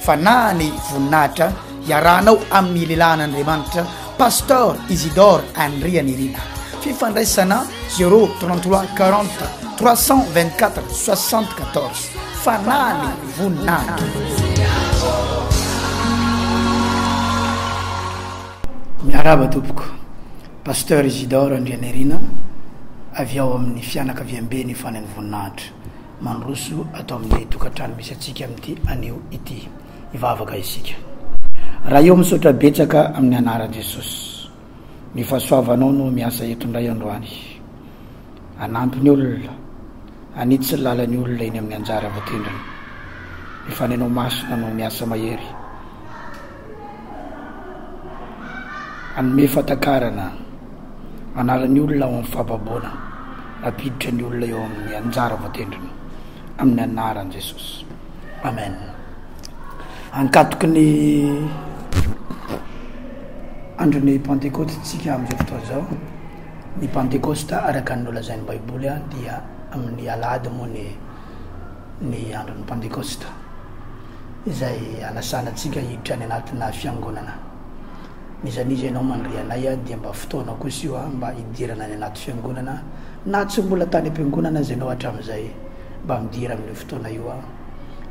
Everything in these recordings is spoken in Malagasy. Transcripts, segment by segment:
Fanahy ny voninahitra iarahanao amin'ny lehilahin'Andriamanitra Pasteur Isidore Andrianirina. Fifandraisana 033 40 324 74. Fanahy ny voninahitra. Miarahaba tompoko, Pasteur Isidore Andrianirina avy ao amin'ny fianakaviamben'ny Fanahy ny voninahitra. mandroso ato amin'ny tokantrano misy antsika amin'ity anio ity. Hivavaka isika. Ray ô, misaotra betsaka amin'ny anaran'i Jesosy. Ny fahasoavanao no miasa eto indray androany. Hanampy ny olona, hanitsy ny lalan'ny olona eny amin'ny anjara voatendrana. Ny fanenao masina no miasa mahery. Hanome fahatakarana anaran'ny olona ao amin'ny fahababoana hampiditra ny olona eo amin'ny anjara voatendriny amin'ny anaran'i Jesosy. Amen. Ankatoky ny andron'ny Pantekoty tsika amin'izao fotoana izao. Ny Pantekosta araka ny nolazain'ny Baiboly dia amin'ny alahady moa ny ny andron'ny Pantekosta. izay hanasana antsika hiditra any anatina fiangonana. N'iza n'iza ianao mandre anay dia mba fotoanao kosa io mba hidirana any anaty fiangonana na tsy mbola tany am-piangonana aza ianao hatramin'izay mba midira amin'io fotoana io aho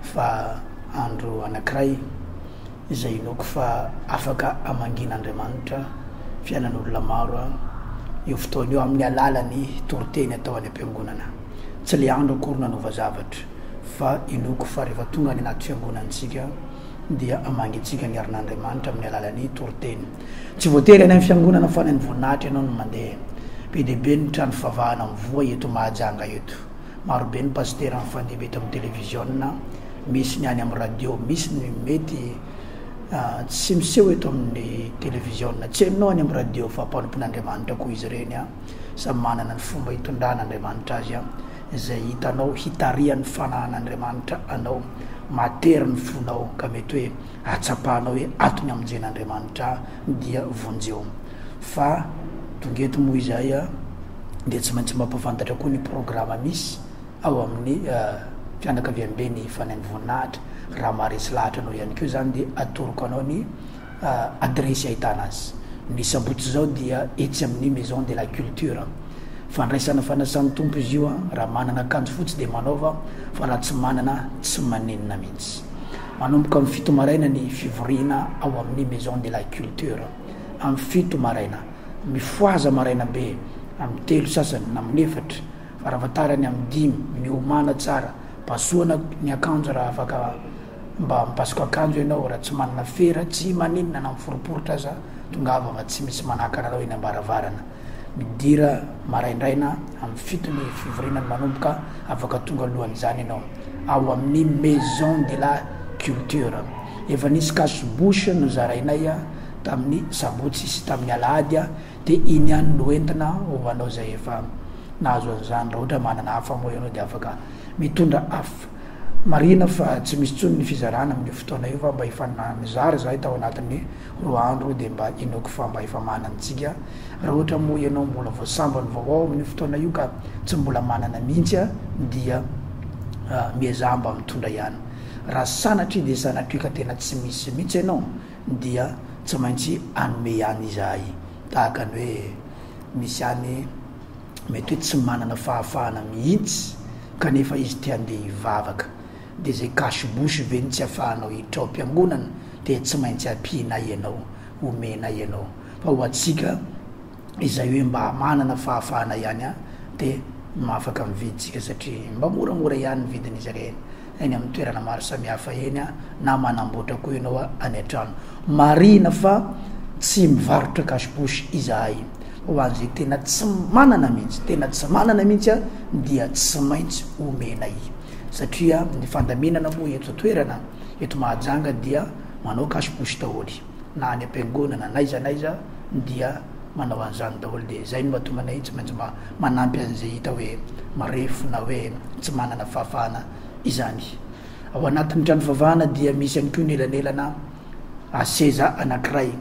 fa andro anankiray izay inoako fa afaka hamangian'Andriamanitra fiainan'olona maro aho io fotoana io amin'ny alalan'ny toriteny atao any am-piangonana. Tsy le andro akory nanova zavatra. fa inoako fa rehefa tonga any anaty fiangonantsika dia hamangintsika ny herin'Andriamanitra amin'ny alalan'ny toriteny. Tsy voatery any amin'ny fiangonana fa any amin'ny voninahitra ianao no mandeha. Be dia be ny trano fivavahana mivoha eto Mahajanga eto. Maro be ny pasitera mifandimby eto amin'ny televiziona, misy ny any amin'ny radio, misy ny mety ah, tsy miseho eto amin'ny televiziona, tsy hainao any amin'ny radio fa mpanompon'Andriamanitra koa izy ireny. Ah. Samy manana ny fomba hitondrana Andriamanitra azy. Ah. izay hitanao hitarihan'ny fanahan'Andriamanitra anao, matery ny fonao ka mety hoe atsapahanao hoe ato ny hamonjen'Andriamanitra ahy dia vonjeo. Fa tonga eto moa izahay dia tsy maintsy mampafantatra koa ny programa misy ao amin'ny fianakaviamben'ny Fanain'ny Voninahitra, raha maharesy lahatra anao ihany koa izany dia atoroko anao ny adiresy ahitana azy. Ny sabotsy izao dia etsy amin'ny Maison de la Culture. Fandraisana fanasan'ny Tompo izy io, raha manana akanjo fotsy dia manaova fa raha tsy manana tsy manenina mihitsy. Manomboka amin'ny fito maraina ny fivoriana ao amin'ny Maison de la Culture. Amin'ny fito maraina. Mifohaza maraina be amin'ny telo sasany na amin'ny efatra, farafahatarany amin'ny dimy, miomana tsara, pasohana ny akanjo raha afaka, Mba mipasoka akanjo ianao raha tsy manana fera, tsy maninona na miforiporitra aza, tongava fa tsy misy manakana anao eny ambaravarana. Midira maraindraina amin'ny fito ny fivoriana no manomboka, afaka tonga alohan'izany ianao ao amin'ny Maison de la Culture. Efa nisy cache bouche nozarainay tamin'ny sabotsy sy tamin'ny alahady dia iny ihany no entina ho anao izay efa nahazo an'izany. Raha ohatra manana hafa moa ianao dia afaka mitondra hafa. Marihina fa tsy misy intsony ny fizarana amin'io fotoana io fa mba efa nanizara izahay tao anatin'ny roa andro dia mba inoako fa mba efa manana antsika. Raha ohatra moa ianao mbola vao sambany vao ao amin'io fotoana io ka tsy mbola manana mihitsy dia miezaha mba mitondra ihany. Raha sanatria dia sanatria ka tena tsy misy mihitsy ianao dia tsy maintsy hanome ihany izahay tahaka ny hoe misy ihany mety hoe tsy manana fahafahana mihitsy kanefa izy te handeha hivavaka, dia izay cache bouche ve no tsy afahanao hiditra ao am-piangonana dia tsy maintsy ampianay ianao, omenay ianao. Fa ho antsika izay hoe mba manana fahafahana ihany dia afaka mividy isika satria mba moramora ihany ny vidin'izy ireny. eny amin'ny toerana maro samihafa eny na manamboatra koa ianao any an-trano. Marihina fa tsy mivarotra cash bouche izahay. Ho an'izay tena tsy manana mihitsy, tena tsy manana mihitsy dia tsy maintsy omenay. Satria ny fandaminana moa eto toerana, eto Mahajanga dia manao cash bouche daholo. na any am-piangonana na aiza na aiza dia manao an'izany daholo dia izay no mahatonga anay tsy maintsy mba manampy an'izay hita hoe marefo na hoe tsy manana fahafahana izany. Ao anatin'ny trano fivavahana dia misy ihany koa ny elanelana seza anankiray,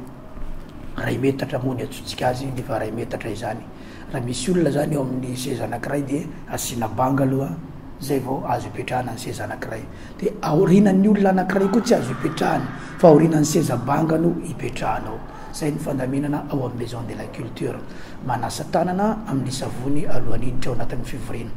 iray metatra moa ny antsointsika azy, efa iray metatra izany. Raha misy olona zany eo amin'ny seza anankiray dia asiana banga aloha zay vao azo ipetrahana ny seza anankiray. Dia aorinan'ny olona anankiray koa tsy azo ipetrahana fa aorinan'ny seza banga no ipetrahanao. Zay ny fandaminana ao amin'ny Maison de la Culture. Manasa tanana amin'ny savony alohan'ny hiditra ao anatin'ny fivoriana.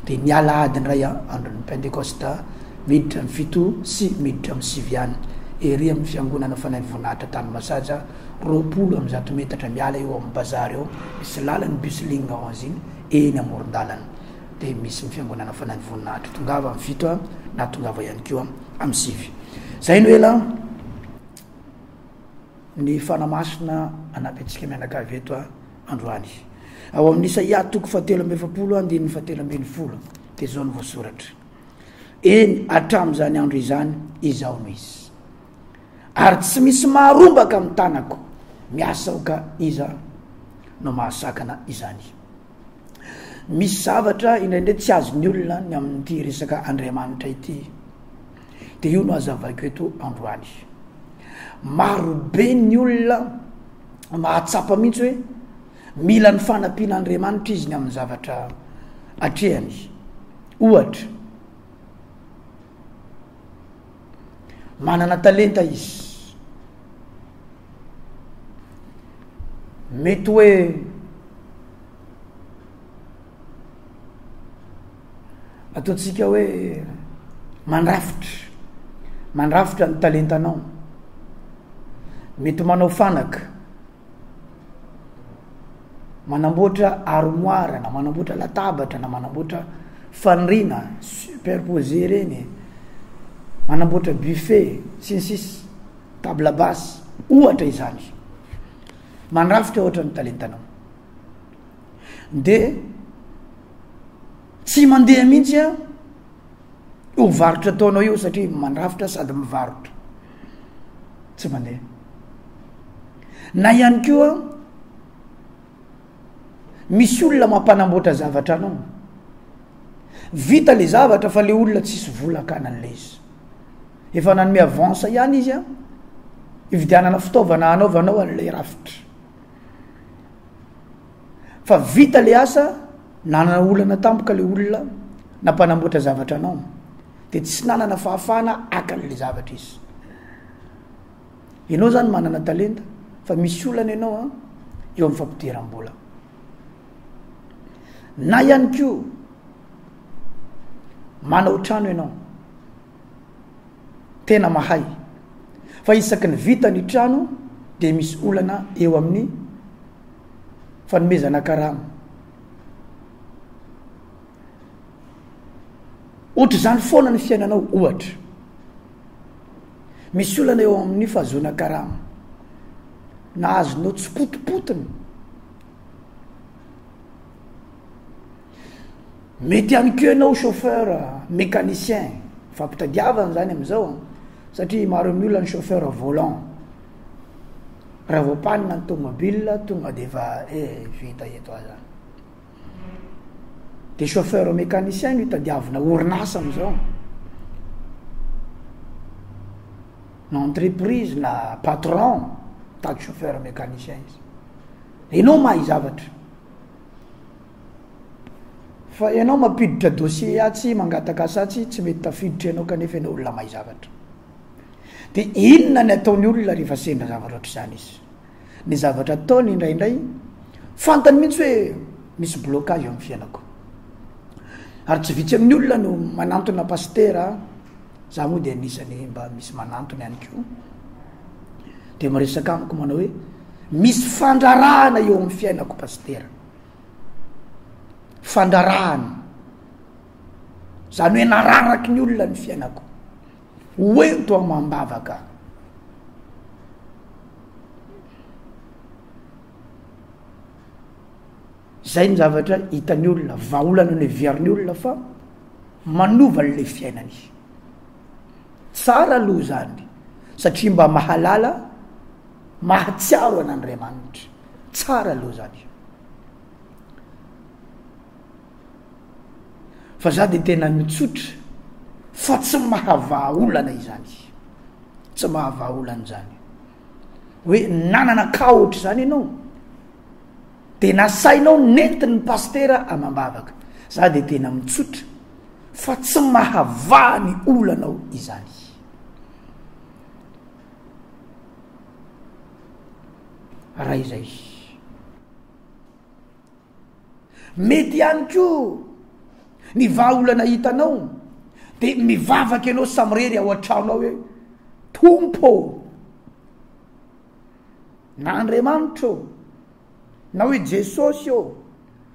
Dia ny alahady indray andron'ny Pentekosta miditra amin'ny fito sy miditra amin'ny sivy ihany. Ery amin'ny fiangonana Fanahy Voninahitra Tanimasaja roapolo amby zato metatra miala eo amin'ny bazary eo, misy lalan'ny bus ligne onze iny, eny amoron-dalana dia misy ny fiangonana fanahy ny voninahitra, tongava amin'ny fito a, na tongava ihany koa amin'ny sivy. Zay no ela ny fanamasina anampy antsika mianakavy eto a androany. Ao amin'ny Isaia toko fahatelo amby efapolo andininy fahatelo ambin'ny folo dia zao no voasoratra. Eny hatramin'izany andro izany izaho no izy. Ary tsy misy maharombaka amin'ny tanako miasa aoka iza no mahasakana izany. Misy zavatra indraindray tsy azon'ny olona ny amin'ity resaka Andriamanitra ity. Dia io no azavaiko eto androany. Marobe ny olona mahatsapa mihitsy hoe mila ny fanampian'Andriamanitra izy ny amin'ny zavatra atrehany. Ohatra, Manana talenta izy. Mety hoe ataontsika hoe mandrafitra, mandrafitra ny talentanao. Mety manao fanaka. Manamboatra armoire na manamboatra latabatra na manamboatra faniriana superposé ireny e. Manamboatra buffet sy ny sisa table basse ohatra izany. Mandrafitra ohatra ny talentanao. De tsy mandeha mihitsy a Io varotra ataonao io satria mandrafitra sady mivarotra tsy mandeha na ihany koa misy olona mampanamboatra zavatra anao vita le zavatra fa le olona tsisy volakana an'le izy efa nanome avance ihany izy an ividianana fitaovana anaovanao an'le rafitra fa vita le asa nanana olana tampoka le olona na mpanamboatra zavatra anao de tsy nanana fahafahana akan'le zavatra izy ianao zany manana talenta fa misy olana ianao a eo amin'ny fampidiram-bola na ihany ko manao trano ianao tena mahay fa isaky ny vita ny trano de misy olana eo amin'ny fanomezana karama. Ohatr'izany foana ny fiainanao ohatra. Misy olana eo amin'ny fahazoana karama. Nahazonao tsy potipotiny. Mety ihany koa ianao chauffeur mécanicien, fampitadiavana izany amin'izao an, satria maro amin'ny olona ny chauffeur volant, raha vao panina ny tomobile tonga dia efa eh vita eto aho zany. Dia chauffeur mécanicien no itadiavina orinasa amin'izao, na entreprise na patron mitady chauffeur mécanicien izy, ianao mahay zavatra. Fa ianao mampiditra dossier atsy mangataka asa atsy tsy mety tafiditra ianao kanefa ianao olona mahay zavatra. Dia inona ny ataony olona rehefa sendra zavatra ohatr'izany izy. Ny zavatra ataony indraindray fantany mihitsy hoe misy blocage eo amin'ny fiainako. Ary tsy vitsy amin'ny olona no manantona pasitera, za moa dia anisany mba misy manantona ihany koa. dia miresaka amiko manao hoe misy fandrarahana eo amin'ny fiainako pastera fandrarahana zany hoe nararaky ny olona ny fiainako hoento amam-bavaka zay ny zavatra hitan'ny olona vahaolana ny viariny olona fa manova n'la fiainany Tsara aloha izany satria mba mahalala, mahatsiaro an'Andriamanitra. Tsara aloha izany. Fa za dia tena mitsotra fa tsy mahavaha olana izany. Tsy mahavaha olana izany. Hoe nanana ka ohatra izany ianao dia nasainao nentin'ny pastera amam-bavaka. Za dia tena mitsotra fa tsy mahavaha ny olanao izany. Raha izay, mety ihany koa ny vahaolana hitanao de mivavaka ianao samirery ao an-trano ao hoe tompo ô na andriamanitra ô Na hoe Jesosy eo,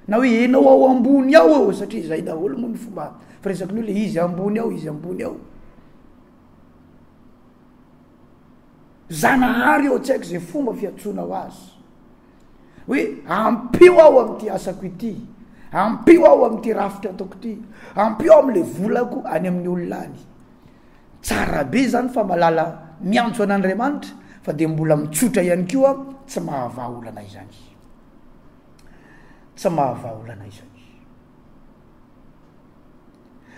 na hoe ianao ao ambony ao eo, satria izay daholo moa ny fomba firesaka ny olona, izy ambony ao, izy ambony ao. Zanahary eo, tsy haiko izay fomba fiantsoana ho azy. Hoe ampio aho amin'ity asako ity, ampio aho amin'ity rafitra ataoko ity, ampio aho amin'ilay volako any amin'ny olona any. Tsara be zany fa malala miantso an'Andriamanitra fa dia mbola mitsotra ihany koa tsy mahavaha olana izany tsy mahavaha olana izany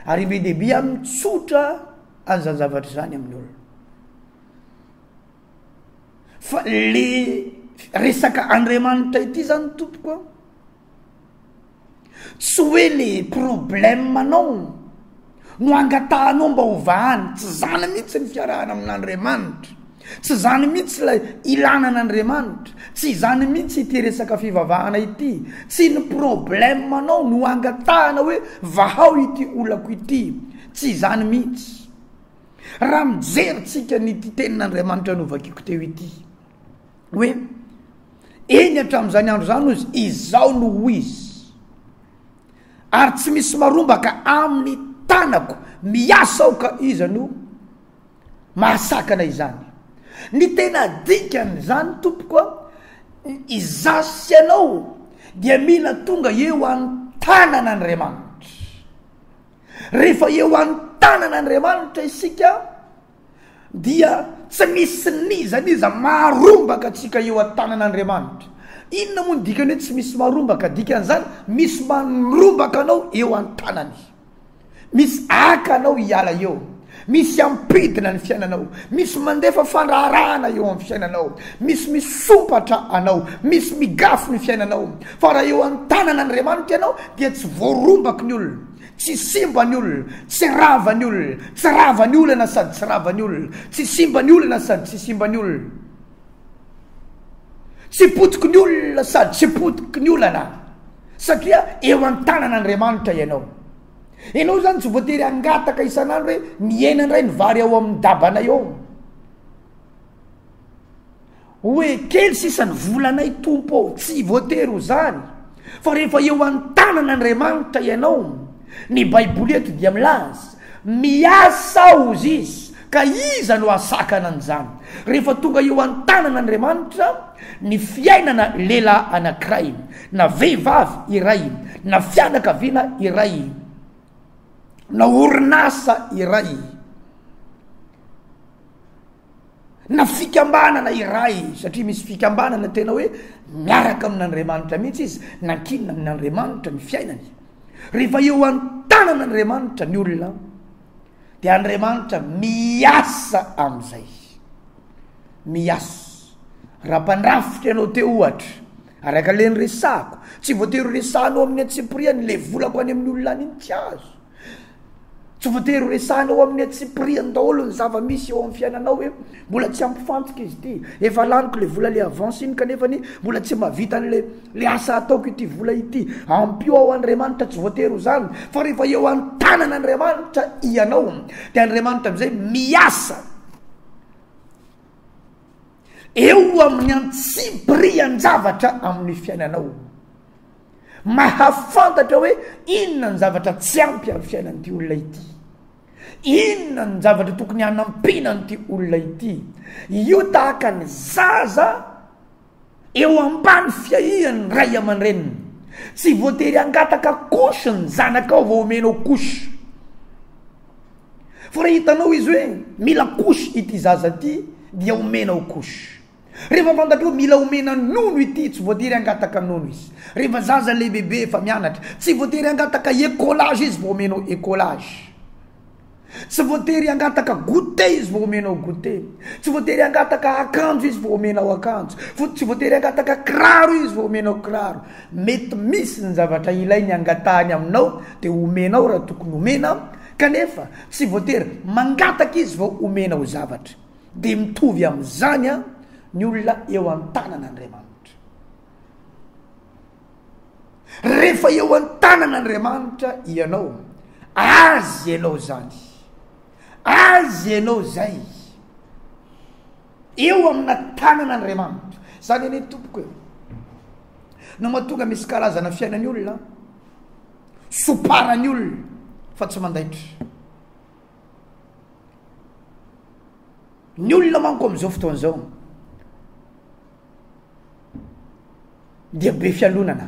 ary be de be a mitsotra an'izany zavatra izany amin'ny olona fa le resaka andriamanitra ity zany tompoko a Tsy hoe le problème anao no angatahanao mba ho vahany, tsy zany mihitsy ny fiarahana amin'Andriamanitra, tsy zany mihitsy ilay ilana an'Andriamanitra, tsy izany mihitsy ity resaka fivavahana ity, tsy ny problème anao no angatahana hoe vahao ity olako ity, tsy izany mihitsy. Raha mijery tsika an'ity tenin'Andriamanitra novakiko teo ity, hoe eny hatramin'izany andro izany ozy izaho no ho izy ary tsy misy marombaka amin'ny tanako miasa ao ka iza no mahasakana izany ny tena dikany izany tompoko a izasy anao dia mila tonga eo any tanana andriamanitra rehefa eo any tanana andriamanitra isika dia tsy misy n'iza n'iza maharombaka antsika eo an-tanan'Andriamanitra. Inona moa ny dikany hoe tsy misy marombaka? Dikan'izany, misy manrombaka anao eo an-tanany. Misy aka anao hiala eo. Misy hampidina ny fiainanao. Misy mandefa fandraharahana eo amin'ny fiainanao. Misy misompatra anao. Misy migafy ny fiainanao. Fa raha eo an-tanan'Andriamanitra ianao dia tsy voarombaky ny olona. Tsy simba ny olona, tsy rava ny olona, tsy rava ny olana sady tsy rava ny olona, tsy simba ny olana sady tsy simba ny olona, tsy potiky ny olona sady tsy potiky ny olana, satria eo an-tanan'Andriamanitra ianao. Ianao izany tsy voatery hangataka isan'andro hoe mihena indray ny vary ao amin'ny dabanay ao. Hoe kely sisa ny volanay Tompo ô, tsy voatery ho zany, fa rehefa eo an-tanan' Andriamanitra ianao, ny baiboly eto dia milaza, miasa ozy izy, ka iza no hasakana an'izany? Rehefa tonga eo an-tanan' Andriamanitra ny fiainana lehilahy anankiray, na vehivavy iray, na fianakaviana iray, na orinasa iray, na fikambanana iray satria misy fikambanana tena hoe miaraka amin'Andriamanitra mihitsy izy nankinina amin'Andriamanitra ny fiainany rehefa eo an-tanana Andriamanitra ny olona dia Andriamanitra miasa amin'izay miasa raha mpandrafitra ianao te ohatra araka le ny resako tsy voatery resahanao amin'ny antsipiriany le volako any amin'ny olona any ny tsy azo Tsy voatery ho resahina ao amin'ny antsipiriany daholo ny zava-misy eo amin'ny fiainanao hoe mbola tsy hampifantoka izy ity. Efa laniko ilay vola ilay avance iny kanefa ny mbola tsy mahavita an'ilay le asa ataoko ity vola ity. Ampio ao Andriamanitra tsy voatery ho izany fa rehefa eo an-tanana Andriamanitra ianao dia Andriamanitra amin'izay miasa eo amin'ny antsipirian-javatra amin'ny fiainanao. mahafantatra hoe inona ny zavatra tsy ampy amin'ny fiainan'ity olona ity inona ny zavatra tokony hanampiana an'ity olona ity io tahaka ny zaza eo ambany fiahian'ny ray aman-dreniny tsy voatery angataka kosy ny zanaka ao vao omenao kosy fa raha hitanao izy hoe mila kosy ity zaza ty dia omenao kosy Rehefa fantantro mila omena nono ity tsy voatery hangataka nono izy. Rehefa zaza lehibebe efa mianatra tsy voatery hangataka ecolage izy vao omenao ecolage. Tsy voatery hangataka goûter izy vao omenao goûter. Tsy voatery hangataka akanjo izy vao omenao akanjo. Fo- tsy voatery hangataka kiraro izy vao omenao kiraro. Mety misy ny zavatra ilainy hangatahany aminao de omenao raha tokony omena kanefa tsy voatery mangataka izy vao omenao zavatra. Dia mitovy amin'izany an ny olona eo an-tanana Andriamanitra. Rehefa eo an-tanana Andriamanitra ianao, Azy ianao izany. Azy ianao izay. Eo amina tanana Andriamanitra. Izany anie tompoko e. No mahatonga misy karazana fiainan'ny olona, soparan'ny olona fa tsy mandaitra. Ny olona manko amin'izao fotoana izao dia be fialonana,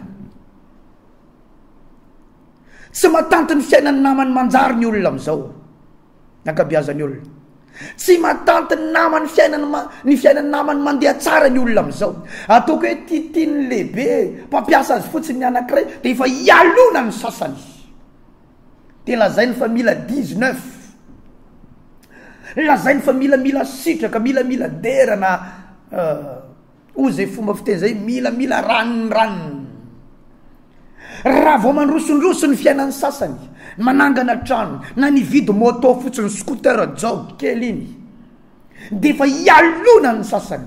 tsy matanty ny fiainan'ny namany manjary ny olona amin'izao, ny ankabiazan'ny olona, tsy matanty ny namany fiainany ma- ny fiainan'ny namany mandeha tsara ny olona amin'izao, ataoko hoe tiatian'ny lehibe mpampiasa azy fotsiny ny anankiray dia efa ialonany ny sasany. de lazainy fa mila dix neuf, lazainy fa mila mila sitraka, mila mila dera na hoy zay fomba fiteny zay mila mila ranonorano. Raha vao mandrosondroso ny fiainan'ny sasany, manangana trano na nividy moto fotsiny scooter jaoby kely iny, de efa ialonan'ny sasany.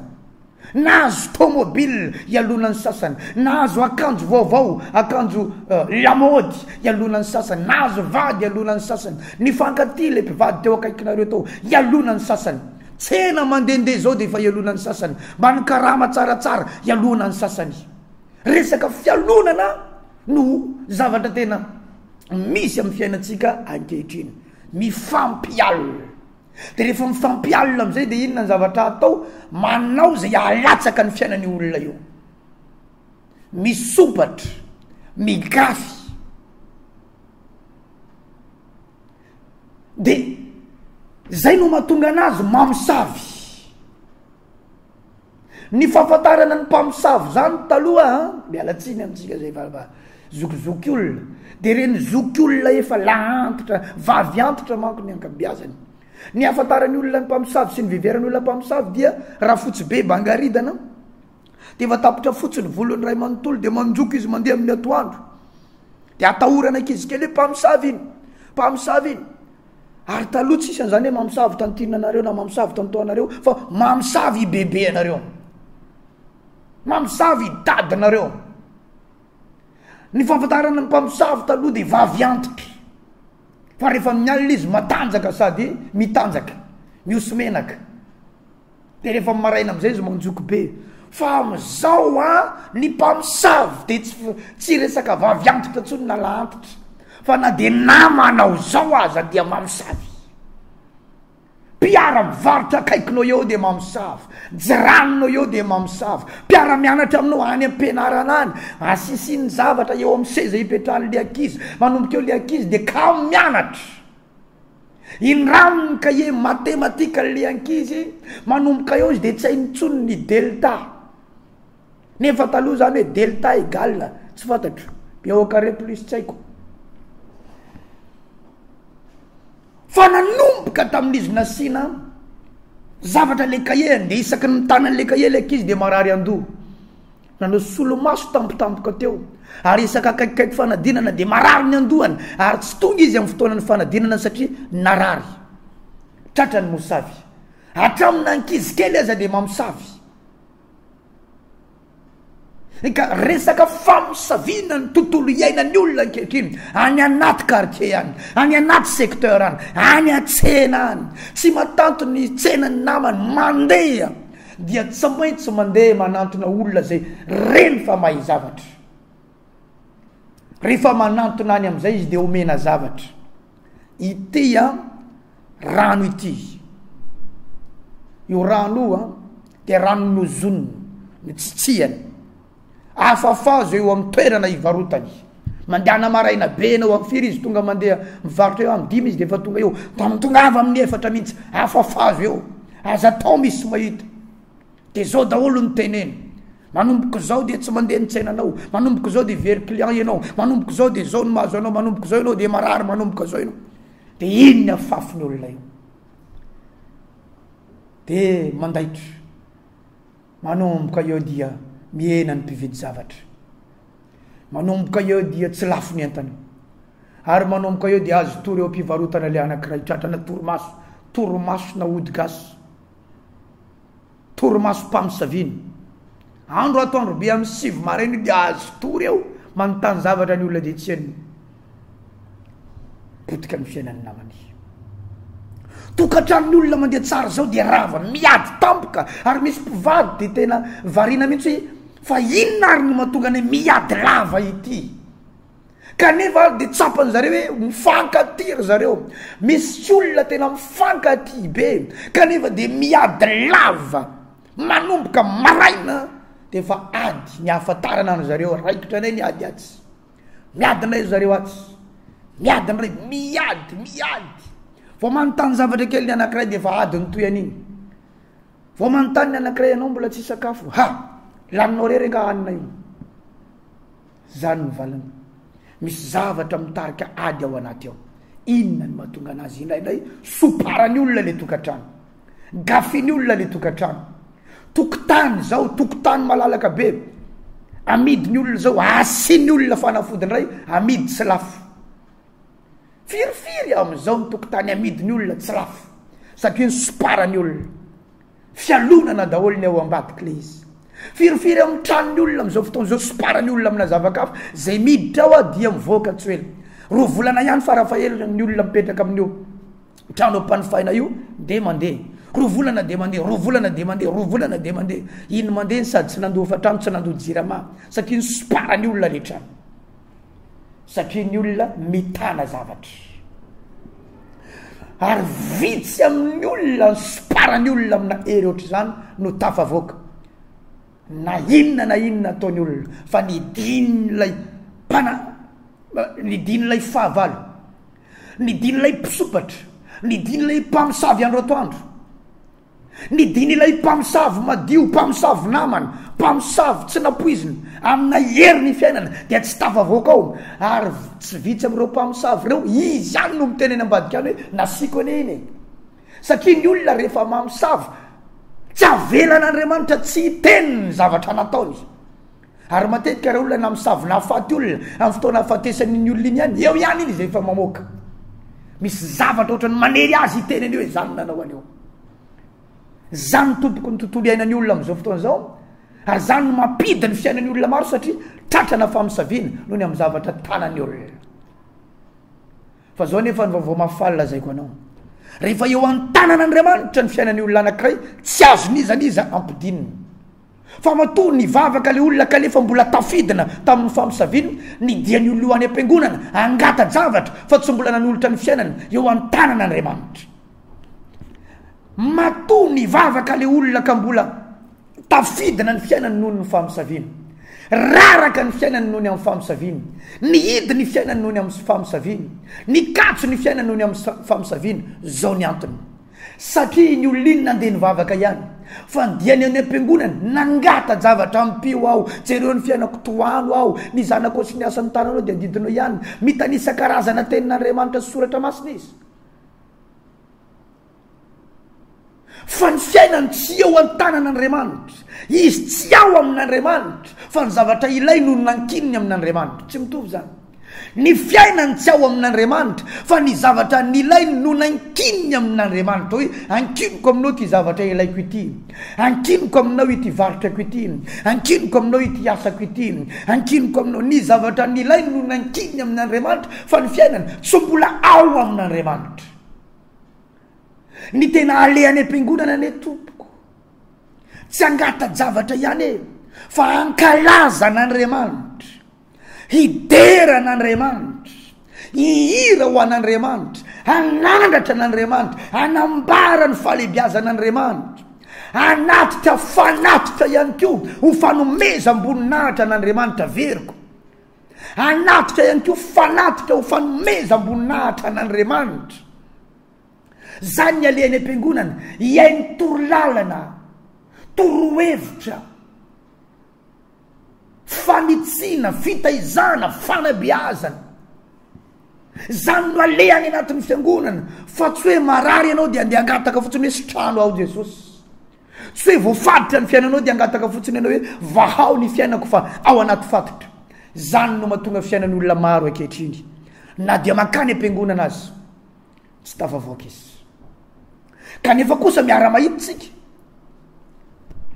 Nahazo tômôbila ialona ny sasany, nahazo akanjo vaovao, akanjo lamaody ialona ny sasany, nahazo vady ialona ny sasany, nifankatia ilay mpivady teo akaikinareo tao ialona ny sasany. Tsena mandehandeha izao dia efa ialona ny sasany, mba nikarama tsaratsara ialona ny sasany. Resaka fialonana no zavatra tena misy amin'ny fiainantsika ankehitriny. Mifampialona. De rehefa mifampialona amizay de inona ny zavatra atao? Manao zay alatsaka ny fiainan'io olona io. Misopatra, migafy. De zay no mahatonga anazy mamosavy. Ny fahafantarana ny mpamosavy izany taloha an, miala tsiny amintsika izay fa fa zokizoky olona, dia ireny zoky olona efa lahy antitra, vavy antitra manko ny ankabeazany. Ny ahafantaran'ny olona ny mpamosavy sy ny viveran'ny olona mpamosavy dia Rafotsibe Bangaridana dia efa tapitra fotsy ny volony iray manontolo dia manjoky izy mandeha amin'ny atoandro. Dia atahorana ankizy kely hoe mpamosavy iny, mpamosavy iny. Ary taloha tsisy an'izany hoe mamosavy tantinina anareo na mamosavy tanto anareo fa mamosavy i bebe anareo. Mamosavy i dadinareo. Ny fampatarana ny mpamosavy taloha dia vavy antitra. Fa rehefa mialina izy matanjaka sady mitanjaka, mihoso-menaka. De rehefa am maraina amizay izy manjoky be fa amizao a ny mpamosavy de tsy f- tsy resaka vavy antitra tsony na lahy antitra fa na de nama anao zao aza dia mamosavy mpiara mivarotra akaikinao eo de mamosavy jiranonao eo de mamosavy mpiara mianatra aminao any ampianarana any asisiny zavatra eo am seza ipetrahanle ankizy manomboka eo le ankizy de kamo mianatra Indrany ny cahier matematika le ankizy manomboka eo izy de tsy hainy intsony ny delta nefa taloha zany hoe delta egal tsy fantatro pi au carre plus tsy haiko fa nanomboka tamin'izy nasiana zavatra le cahier de isaky ny mitana anle cahier le ankizy de marary andoha Nanao solomaso tampotampoka teo ary isaka akaikikaiky fanadinana dia marary ny andohany ary tsy tonga izy amin'ny fotoanan'ny fanadinana satria narary. Tratra ny mosavy. Hatramina ankizy kely aza dia mamosavy. Ka resaka famosaviana ny tontolo iainan'ny olona ankehitriny any anaty quartier any, any anaty secteur any, any an-tsena any. Tsy matanty ny tsenan'ny namany, mandeha. Dia tsy maintsy mandeha manantona olona izay reny fa mahay zavatra. Rehefa manantona any amin'izay izy dia omena zavatra. Ity a rano ity. Io rano io a dia rano nozonina, notsitsiany, Afafazo eo amin'ny toerana ivarotany. Mandehana maraina be ianao amin'ny firy izy tonga mandeha mivarotra eo amin'ny dimy izy dia efa tonga eo. Tamin'ny tonga avy amin'ny efatra mihitsy, afafazo eo. Aza atao misy mahita. Dia izao daholo ny teneny. Manomboka izao dia tsy mandeha ny tsenanao. Manomboka izao dia very client ianao. Manomboka izao dia izao no mahazo anao. Manomboka izao ianao dia marary manomboka izao ianao. Dia iny ny afafin'ny olona io. Dia mandaitra. Manomboka eo dia mihena ny mpividy zavatra. Manomboka eo dia tsy lafo ny entana. Ary manomboka eo dia azo tory eo am-pivarotana ilay anankiray tratrana torimaso, torimaso na ody gasy, torimaso mpamosavina. Andro ato androbe amin'ny sivy maraina dia azo tory eo manontany zavatra ny olona dia tsy henony. potika ny fiainan'ny namany. Tokantranon'ny olona mandeha tsara zao dia rava, miady tampoka ary misy mpivady dia tena variana mihitsy hoe fa inona ary no mahatonga ny miady lava ity. Kanefa ary dia tsapany zareo hoe mifankatia ry zareo, misy olona tena mifankatia be kanefa dia miady lava manomboka maraina dia efa ady ny ahafantarana an' zareo raikitra indray ny ady atsy. Miady indray ry zareo atsy, miady indray, miady, miady. Vao manontany zavatra kely ny anankiray dia efa ady nitohy an'iny. Vao manontany ny anankiray ianao mbola tsy sakafo, ha! Laninao irery angaha hanina io? Izany ny valiny. Misy zavatra mitarika ady ao anaty ao. Inona no mahatonga an'azy? Indraindray soparan'ny olona ilay tokantrano. Gafin'ny olona le tokantrano. Tokotany zao, tokotany malalaka be. Amidin'ny olona zao, asian'ny olona fanafody indray, amidy tsy lafo. Firifiry amin'izao ny tokotany amidin'ny olona tsy lafo satria ny soparany olona. Fialonana daholo ny ao ambadika le izy. Firifiry amin'ny tranon'ny olona amin'izao fotoana izao soparany olona amina zava-kafa zay miditra ao dia mivoaka tsy ho ela. Roa volana ihany farafahelany ny olona mipetraka amin'io. trano ampanofaina io de mandeha roa volana de mandeha roa volana de mandeha roa volana de mandeha iny mandeha ny sady tsy nandoa hofantrano tsy nandoa jirama satria ny soparany olona rehetra satria ny olona mitana zavatra ary vitsy amin'ny olona ny soparany olona amina hery ohatr'izany no tafavoaka na inona na inona ataony olona fa ny din'ilay mpana ny din'ilay fahavalo Ny dinin'ilay mpisompatra, ny dinin'ilay mpamosavy andro atoandro, ny dinin'ilay mpamosavy madio, mpamosavy namana, mpamosavy tsy nampoizina, amina hery ny fiainana dia tsy tafavoaka ao, ary tsy vitsy amin'ireo mpamosavy ireo izy ihany no miteny eny ambadika any hoe nasiako anie iny e! satria ny olona rehefa mamosavy tsy avelan'Andriamanitra tsy hiteny ny zavatra nataony. Ary matetika raha olona na misavy na faty olona amin'ny fotoana ahafatesany iny olona iny ihany, eo ihany iny izay efa mamoaka. Misy zavatra ohatrany manery azy hiteny an'io hoe zany nanao an'io. Zany tompoko ny tontolo iainan'ny olona amin'izao fotoana izao, ary zany no mampiddy ny fiainan'ny olona maro satria tratrana famisaviana noho ny amin'ny zavatra tanan'ny olona. Fa zao nefa ny vaovao mahafaly lazaiko anao. Rehefa eo an-tanan'Andriamanitra ny fiainan'ny olona anankiray, tsy azon'iza n'iza ampidinina. Fa matoa nivavaka le olona kanefa mbola tafidina tamin'ny famosaviana ny diany ho lo any am-piangonana, angata-javatra fa tsy mbola nanolotra ny fiainany eo an-tanana Andriamanitra. Matoa nivavaka le olona ka mbola tafidina ny fiainany noho ny famosaviana. Raraka ny fiainany noho ny amin'ny famosaviana. Nihidy ny fiainany noho ny amin'ny famosaviana. Nikatso ny fiainany noho ny amin'ny famosaviana. Zao ny antony. Satria iny olona iny nandeha nivavaka ihany fa ny diany any am-piangonana nangata-javatra ampio aho, jereo ny fiainako, tohano aho, ny zanako sy ny asan'ny tananao dia adidinao ihany. Mitanisa karazana tenin'Andriamanitra sy soratra masina izy. Fa ny fiainany tsy eo an-tanan'Andriamanitra, izy tsy ao amin'Andriamanitra fa ny zavatra ilainy no nankininy amin'Andriamanitra. Tsy mitovy izany. Ny fiainany tsy ao amin'Andriamanitra, fa ny zavatra nilainy no nankininy amin'Andriamanitra. Hoe, Ankiniko aminao ity zavatra ilaiko ity. Ankiniko aminao ity varotrako ity. Ankiniko aminao ity asako ity. Ankiniko aminao. Ny zavatra nilainy no nankininy amin'Andriamanitra, fa ny fiainany tsy mbola ao amin'Andriamanitra. Ny tena aleha any am-piangonana anie tompoko, tsy angata-javatra ihany e, fa ankalaza an'Andriamanitra. Hidera an'Andriamanitra, hihira ho an'Andriamanitra, hanandratra an'Andriamanitra, hanambara ny fahalebiazan'Andriamanitra, hanatrika fanatitra ihany koa ho fanomezam-boninahitra an'Andriamanitra veriko. Hanatrika ihany koa fanatitra ho fanomezam-boninahitra an'Andriamanitra. Zany ny alehan'ny am-piangonana, hihaino torolalana, torohevitra, Fanitsiana, fitaizana, fanabeazana. Izany no aleha any anatin'ny fiangonana fa tsy hoe marary ianao dia andeha angataka fotsiny hoe sitrano aho Jesosy. Tsy hoe voafaditra ny fiainanao dia angataka fotsiny ianao hoe vahao ny fiainako fa ao anaty fatotra. Izany no mahatonga fiainan'ny olona maro ankehitriny na dia mankany am-piangonana aza. Tsy tafavoaka izy. Kanefa kosa miara-mahita isika.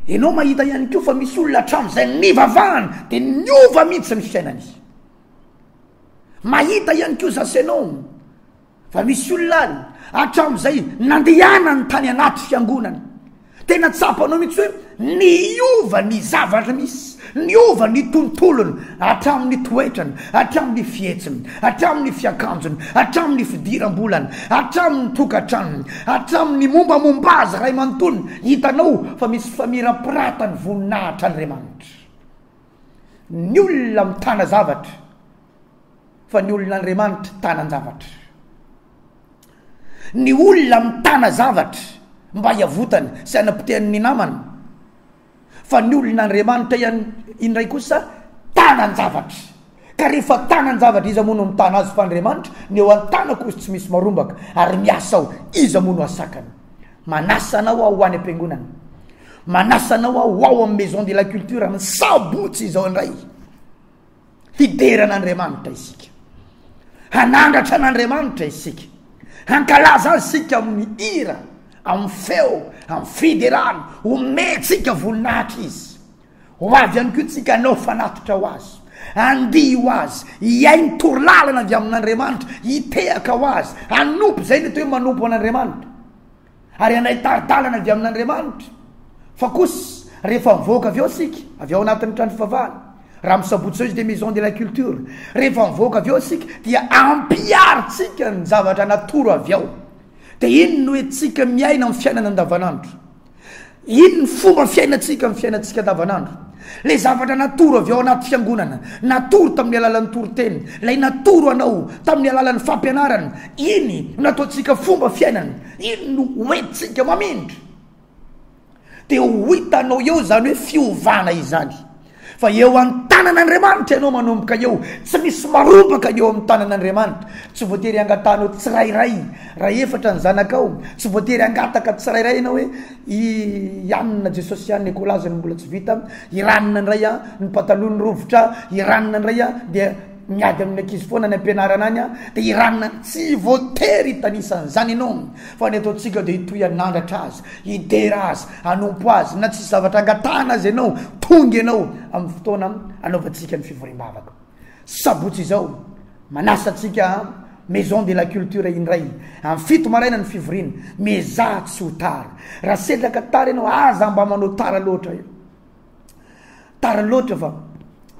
Ianao mahita ihany koa fa misy olona hatramin'izay nivavahany dia niova mihitsy ny fiainany. Mahita ihany koa zasy ianao fa misy olona any hatramin'izay nandehanany tany anaty fiangonana Tena tsapanao mihitsy hoe niova ny zavatra misy, niova ny tontolony, hatramin'ny toetrany, hatramin'ny fihetsiny, hatramin'ny fiakanjony, hatramin'ny fidiram-bolany, hatramin'ny tokantranony, hatramin'ny mombamomba azy iray manontolo, hitanao fa misy famirapiratany voninahitra an'Andriamanitra. Ny olona mitana zavatra fa ny olon'Andriamanitra tanan-javatra. Ny olona mitana zavatra mba hiavotany sy hanapotehany ny namany fa ny olon'Andriamanitra ihany indray kosa tanan-javatra. Ka rehefa tanan-javatra iza moa no mitana azy fa Andriamanitra, ny eo an-tanako izy tsy misy marombaka ary miasa aho, iza moa no hasakana. Manasa anao aho ho any am-piangonana. Manasa anao aho ho ao amin'ny Maison de la Culture amin'ny sabotsy izao indray. Hidera an'Andriamanitra isika. Hanangatra an'Andriamanitra isika. Hankalaza azy isika amin'ny hira, amin'ny feo, amin'ny fiderana. Omentsika voninahitra izy. Ho avy ihany koa isika hanao fanatitra ho Azy, handihy ho Azy, hihaino toro lalana avy amin'Andriamanitra, hitehaka ho Azy, hanompo, izay no atao hoe manompo an'Andriamanitra, ary handray tari-dalana avy amin'Andriamanitra. Fa kosa rehefa mivoaka avy ao isika, avy ao anatin'ny trano fivavahana, raha amin'ny sabotsy izao izy dia Maison de la Culture, rehefa mivoaka avy ao isika dia ampiharintsika ny zavatra natoro avy ao. Dia iny no hoe tsika miaina amin'ny fiainana andavanandro. Iny ny fomba fiainantsika amin'ny fiainantsika andavanandro. Ilay zavatra natoro avy ao anaty fiangonana, natoro tamin'ny alalan'ny toriteny, ilay natoro anao tamin'ny alalan'ny fampianarana, iny no nataontsika fomba fiainana, iny no hoentintsika mamindra. Dia ho hitanao eo izany hoe fiovana izany. Fa eo an-tanan'Andriamanitra ianao manomboka eo. Tsy misy marobaka eo amin'ny tanan'Andriamanitra. Tsy voatery hangatahanao tsirairay. Raha efatra ny zanakao, tsy voatery hangataka tsirairay ianao hoe, i Anna, Jesosy ihany no ekolazy no mbola tsy vita, i Ranona indray an, ny pataloany rovitra, i Ranona indray an, dia miady amin'ny ankizy foana any am-pianarana any an, dia i Ranona, tsy voatery hitanisa an'izany ianao. Fa ny ataontsika dia hitohy hanandratra azy. Hidera azy, hanompo azy, na tsisy zavatra angatahana aza ianao, tonga ianao amin'ny fotoana anaovantsika ny fivoriam-bavaka. Sabotsy izao, manasa antsika Maison de la Culture indray, amin'ny fito maraina ny fivoriana, miezaha tsy ho tara. Raha sedraka tara ianao, aza mba manao tara loatra e. Tara loatra fa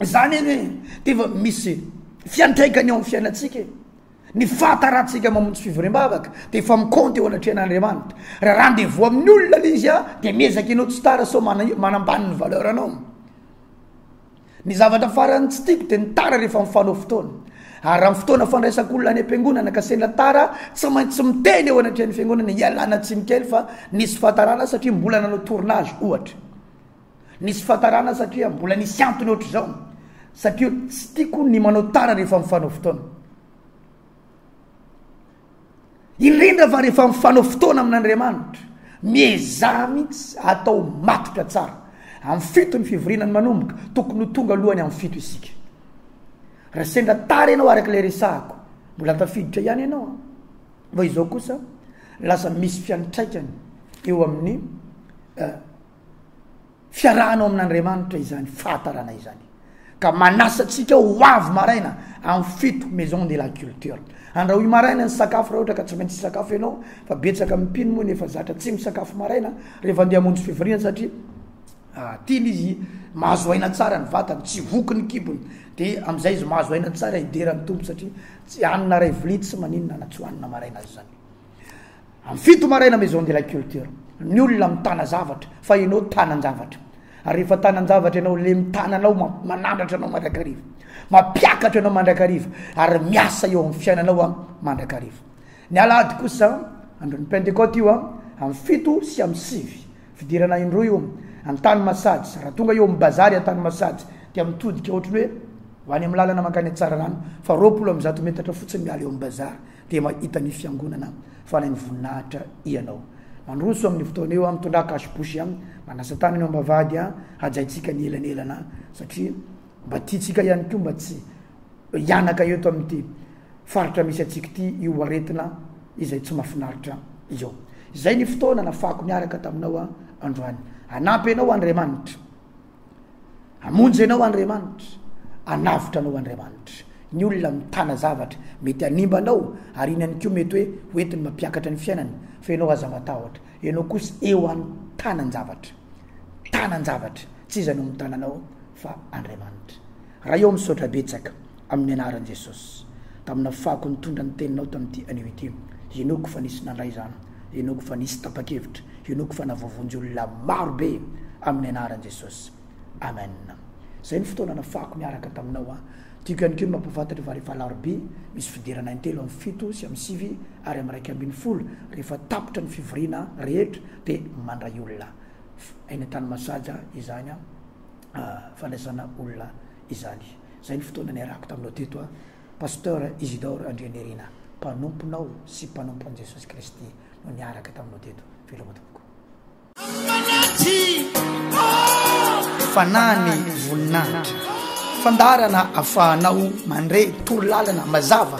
izany anie dia efa misy fiantraikany eo amin'ny fiainantsika e. Ny fahataratsika mamonjy fivoriam-bavaka dia efa mikaonty eo anatrehan'Andriamanitra. Raha rendez-vous amin'ny olona ilay izy dia miezaka ianao tsy tara sao manambany ny valeur anao. Ny zavatra farany tsy tiako dia ny tara rehefa mifanao fotoana. Ary raha ny fotoana fandraisak'olona any am-piangonana ka sendra tara, tsy maintsy miteny eo anatrehan'ny fiangonana ialana tsiny kely fa nisy fahatarana satria mbola nanao tournage ohatra. Nisy fatarana satria mbola nisy antony ohatr'izao satria tsy tiako ny manao tara rehefa mifanao fotoana. Indrindra fa rehefa mifanao fotoana amin'Andriamanitra, miezaha mihitsy atao matotra tsara. Amin'ny fito ny fivoriana ny manomboka, tokony ho tonga alohany amin'ny fito isika. Raha sendra tara ianao araka ilay resahako, mbola tafiditra ihany ianao. Fa izao kosa lasa misy fiantraikany eo amin'ny eh, fiarahana ao amin'Andriamanitra izany fahatarana izany ka manasa antsika ho avy maraina amin'ny fito maison de la culture andrahoy maraina ny sakafo raha ohatra ka tsy maintsy sakafo ianao fa betsaka amin'ny mpino moa nefa zatra tsy misakafo maraina rehefa andeha hamonjy fivoriana satria ah, tiany izy mahazo aina tsara ny vatany tsy voky ny kibony dia amin'izay izy mahazo aina tsara hidera ny tompo satria tsy hanina ray vilia tsy maninona na tsy hohanina maraina azy izany Amin'ny fito maraina Maison de la Culture. Ny olona mitana zavatra fa ianao tanan-javatra. Ary rehefa tanan-javatra ianao, le mitana anao ma- manandratra anao mandrakariva. Mampiakatra anao mandrakariva ary miasa eo amin'ny fiainanao a mandrakariva. Ny alahady kosa andron'ny Pentecote io a amin'ny fito sy amin'ny sivy. Fidirana indroa io Antany Masajy. Raha tonga eo amin'ny bazary Antany Masajy dia mitodika ohatry ny hoe ho any amin'ny lalana mankany Tsararano fa roapolo amby zato metatra fotsiny miala eo amin'ny bazary. Dia mahita ny fiangonana fa lany voninahitra ianao. Mandroso amin'ny fotoana eo amin'ny tonda cache bouche an, manasa tanana eo ambavahady an, hajaintsika ny elanelana satria mba tiantsika ihany koa mba tsy hianaka eto amin'ity faritra misy antsika ity io aretina izay tsy mafinaritra io. Izay ny fotoana nafahako niaraka taminao an androany. Hanampy anao Andriamanitra. Hamonjy anao Andriamanitra, hanavotra anao Andriamanitra. Ny olona mitana zavatra mety hanimba anao ary iny ihany koa mety hoe hoentiny mampiakatra ny fiainany fa ianao aza matahotra, ianao kosa eo an-tanan-javatra. Tanan-javatra, tsy iza no mitana anao fa Andriamanitra. Raha eo misaotra betsaka. Amin'ny anaran'i Jesosy. Tamina fako nitondra ny teninao tamin'ity anio ity. Henoiko fa nisy nandray izany. Henoiko fa nisy tapa-kevitra. Henoiko fa navoavonjy olona maro be. Amin'ny anaran'i Jesosy. Amen. Izay ny fotoana nafahako miaraka taminao aho. Tiako ihany koa ny mampahafantatra fa rehefa alarobia, misy fiderana in-telo amin'ny fito sy amin'ny sivy ary amin'ny iraika ambin'ny folo, rehefa tapitra ny fivoriana rehetra dia mandray olona. F, Any an-tany masaja izany an, fandraisana olona. izany. Izay ny fotoana niarahako taminao teto aho, Pasteur Isidore Andrianirina, mpanomponao sy mpanompon'i Jesosy Kristy no niaraka taminao teto. Veloma tompoko. Fanahy ny voninahitra. Fandaharana afahanao mandre toro lalana mazava.